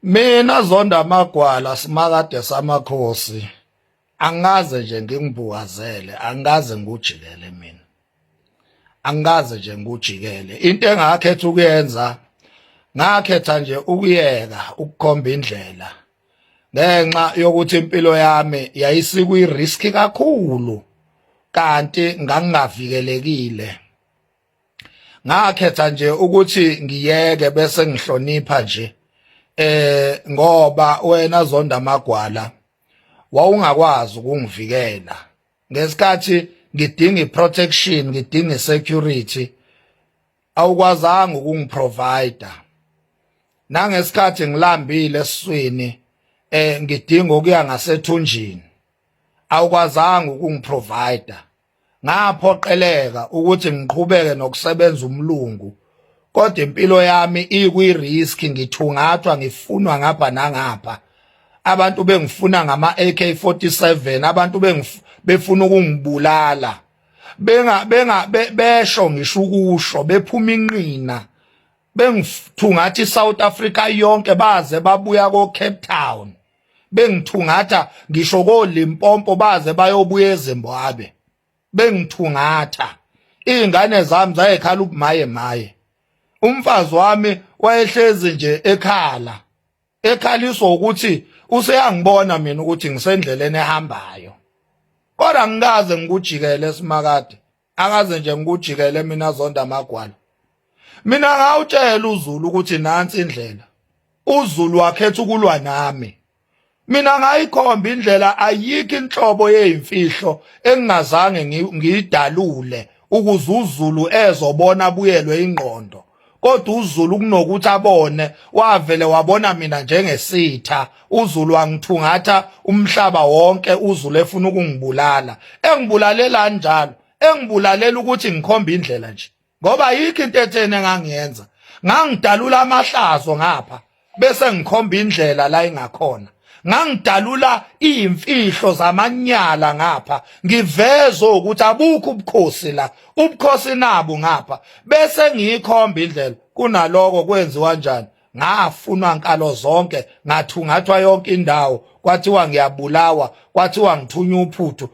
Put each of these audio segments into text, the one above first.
mina zonda amagwala simakade samakhosi angaze nje ngingibukazele angaze ngujikele mina angaze nje ngujikele into engakhetha ukuyenza ngakhetha nje ukuyeka ukukhomba indlela ngenxa yokuthi impilo yami yayisikwi risk kakhulu kanti ngangingavikelekile ngakhetha nje ukuthi ngiyeke bese ngihlonipha nje eh ngoba wena zonda magwala wawungakwazi ukungivikela ngesikhathi ngidinga iprotection ngidinga security awukwazanga ukungiprovider nangesikhathi ngilambile esiswini eh ngidinga ukuya ngasethunjini awukwazanga ukungiprovider Ngaphoqeleka ukuthi ngiqhubeke nokusebenza umlungu kodwa impilo yami ikwi-risk ngithungathwa ngifunwa ngapha nangapha abantu bengifuna ngama-AK47 abantu befuna ukungibulala benga benga besho ngisho ukusho bephuma inqina bengithungathi iSouth Africa yonke baze babuya ko Cape Town bengithungatha ngisho koLimpompo baze bayobuya eZimbabwe bengithungatha izingane zami zayekhala ubumaye maye umfazi wami wayehlezi nje ekhala ekhaliswa ukuthi useyangibona mina ukuthi ngisendleleni ehambayo kodwa ngikaze ngikujikele simakade akaze nje ngikujikele mina zonda amagwala mina ngawutshela uzulu ukuthi nansi indlela uzulu wakhetha ukulwa nami mina ngayikhomba indlela ayikho inhlobo yezimfihlo engingazange ngiyidalule ukuze uzulu ezobona buyelwe ingqondo kodwa uZulu kunokuthi abone wavele wabona mina njengesitha uZulu wangithungatha umhlaba wonke uZulu efuna ukungibulala engibulalela njalo engibulalela ukuthi ngikhomba indlela nje ngoba yikho into ethene ngangiyenza ngangidalula amahlazo ngapha bese ngikhomba indlela la ingakhona ngangidalula imfihlo zamanyala ngapha ngiveze ukuthi abukho ubukhosi la ubukhosi nabo ngapha bese ngiyikhomba indlela kunaloko kwenziwa njani ngafunwa nkalo zonke ngathungathwa yonke indawo kwathiwa ngiyabulawa kwathiwa ngithunywa uphuthu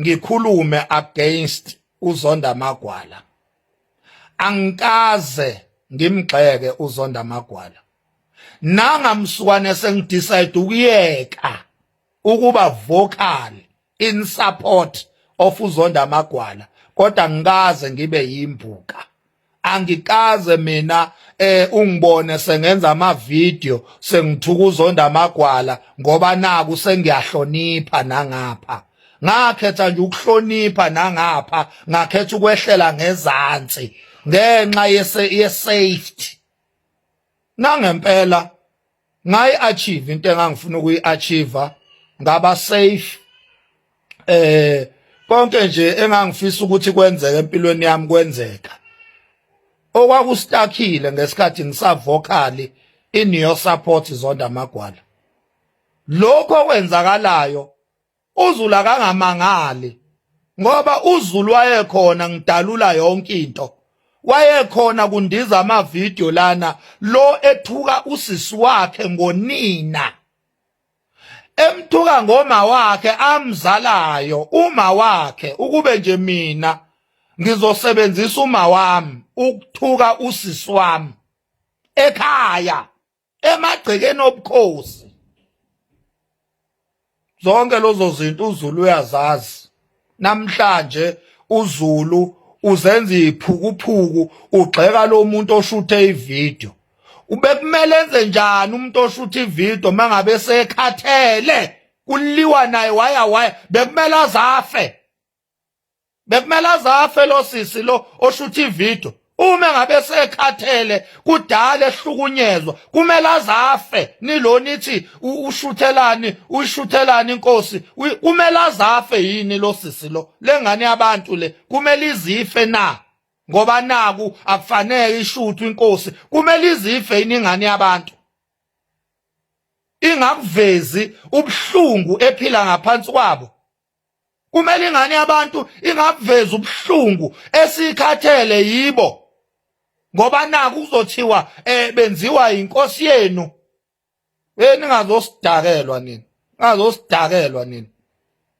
ngikhulume against uzonda magwala angikaze ngimgxeke uzonda magwala nangamsukwane sengidecide ukuyeka ukuba vocal in support of uzonda magwala kodwa ngikaze ngibe yimbuka angikaze mina eh ungibone sengenza ama video sengithukuzonda amagwala ngoba naku sengiyahlonipha nangapha ngakhetha nje ukuhlonipha nangapha ngakhetha ukwehlela ngezansi ngenxa yese ye safety nangempela ngayi achieve into engangifuna ukuyi achieve ngaba safe eh konke nje engangifisa ukuthi kwenzeke empilweni yami kwenzeka okwakustakhile ngesikhathi ngisavocally in your support zonda magwala lokho kwenzakalayo uZulu akangamangali ngoba uZulu wayekhona ngidalula yonke into wayekhona kundiza amavidiyo lana lo ethuka usisi wakhe ngonina emthuka ngoma wakhe amzalayo uma wakhe ukube nje mina ngizosebenzisa uma wami ukuthuka usisi wami ekhaya emagcekeni obukhosi zonke lozo zinto uZulu uyazazi namhlanje uZulu uzenza iphukuphuku ugxeka lo muntu oshuthe ivideo ubekumele enze njani umuntu oshuthe ivideo mangabe sekhathele kuliwa naye waya waya bekumele azafe bekumele azafe lo sisi lo oshutha ividiyo uma ngabe sekhathele kudala ehlukunyezwa kumele azafe nilo nithi ushuthelani uyishuthelani inkosi kumele azafe yini lo sisi lo lengane yabantu le kumele izife na ngoba naku akufanele ishuthu inkosi kumele izife yini ingane yabantu ingakuvezi ubuhlungu ephila ngaphansi kwabo kumele ingane yabantu ingabuveza ubuhlungu esikhathele yibo ngoba naku kuzothiwa eh benziwa inkosi yenu eh ningazosidakelwa nini ngazosidakelwa nini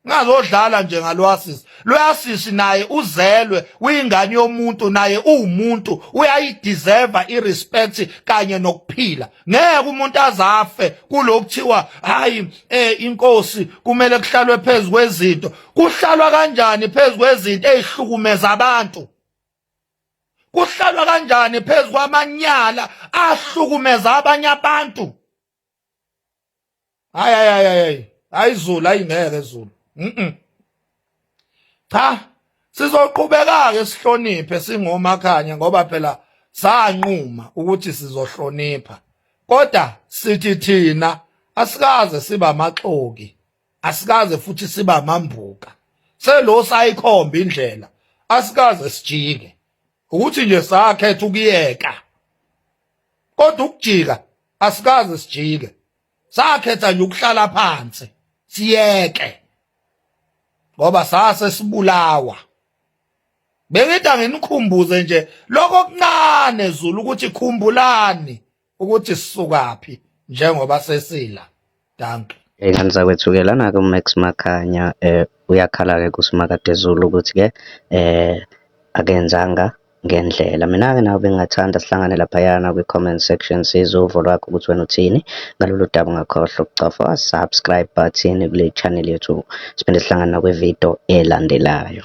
ngazodlala nje ngalwasisi lwasisi naye uzelwe uyingane yomuntu naye uwumuntu uyayideserve irespect kanye nokuphila ngeke umuntu azafe kulokuthiwa hayi eh inkosi kumele kuhlalwe phezulu kwezinto kuhlalwa kanjani phezulu kwezinto ezihlukumeza abantu kuhlalwa kanjani phezulu kwamanyala ahlukumeza abanye abantu hayi hayi hayi hayi izulu ayingeke izulu mhm cha sizoqhubeka ke sihloniphe singomakhanya ngoba phela sanquma ukuthi sizohlonipha kodwa sithi thina asikaze siba amaxoki asikaze futhi siba amambuka selo sayikhomba indlela asikaze sijike ukuthi nje sakhetha ukuyeka kodwa ukujika asikaze sijike sakhetha nje ukuhlala phansi siyeke ngoba sase sibulawa bengithi anginikhumbuze nje lokho kuncane zulu ukuthi khumbulani ukuthi sisukaphi njengoba sesila dankie Ey'ngane zakwethu-ke lana-ke uMax Makhanya um uyakhala-ke kuSimakadezulu ukuthi-ke um akenzanga ngendlela. Mina-ke nawe bengingathanda sihlangane laphayana kwi-comment section size uvo lwakho ukuthi wena uthini ngalolu daba ungakhohlwa ukucofa subscribe button kule channel yethu siphinde sihlangane nakwividiyo elandelayo.